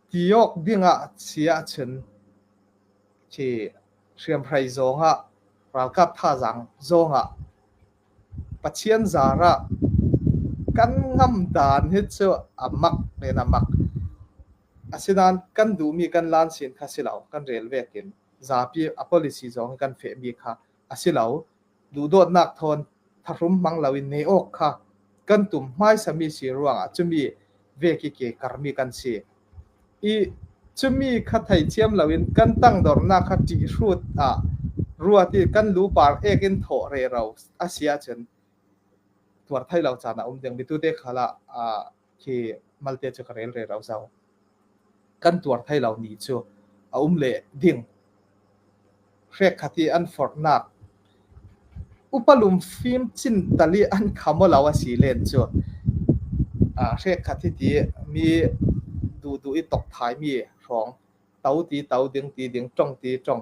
Ti awk dingah si ahcun khi hriamhrei zongah, ralkap thazaang zongah, Pathian zarah kan ngamh dan hi cu a mak men a mak. Asinain kan duhmi kan lansin kha si lo, kan rel vekin zapi a policy zong hi kan fehmi kha a si lo. Duhdawtnak thawn tharum hmang loin ne awk kha kan tum hmaisami si ruangah cumi veki ke karmi kan si. I cumi kha theithiam loin kan tangdornak kha ṭihrut ah ruat i kan lupar ek in thawh re ro a si ahcun tuar thai lo caan a um ding mi tute khala khi malte cu ka rel re ro zo kan tuar thai lo ni cu a um le ding hre khati an fornak upalum fim cin tali an khamo lo asi len cu a hre khati ti mi du du i tok thai mi hrawng to ti to ding ti ding trong ti trong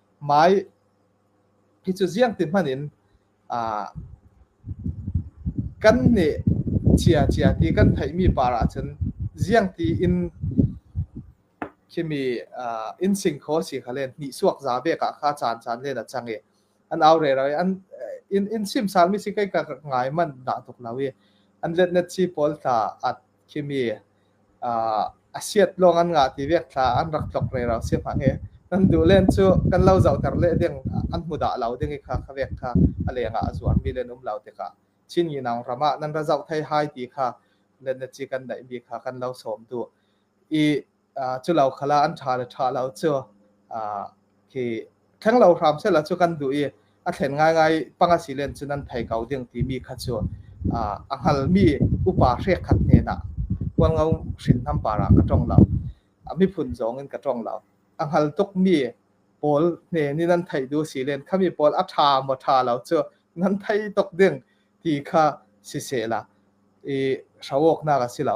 Mai hi cu ziangti hmanh in aa kan nih chia chia ti kan theihmi par ahcun ziangti in khimi uh, in sing kho si kha len hnihsuak za vek ah kha caan caan len a cang i an aure ra i an in in sim salmi si kai ka ngai man da tuk lo i an let net si pawl tha at Khimi uh, a siat lawng an ngah ti vek thla an rak tlok rei rau si hma he nan duh len cu kan lo zoh ter le ding an hmu dah lo ding i kha kha vek kha a leng ah a zuar mi len um lo te ka chin yi nang rama nan ra zoh thai hai ti kha let na chi kan dai bi kha kan lo som tu i cu lo khala an ṭha le ṭha lo cu khi thleng lo hram sela cu kan duh i a thlen ngaingai panga silen cun an thei ko ding timi kha cu a hngalmi upa hrekhat hnenah kualngo hrinhnam para ka tong lo a miphun zong in ka tong lo a hngal tukmi pawl hne nih nan theih du si len khami pawl a ṭha maw ṭha lo cu nan thei tuk ding ti kha si se la i hrawawknak a si lo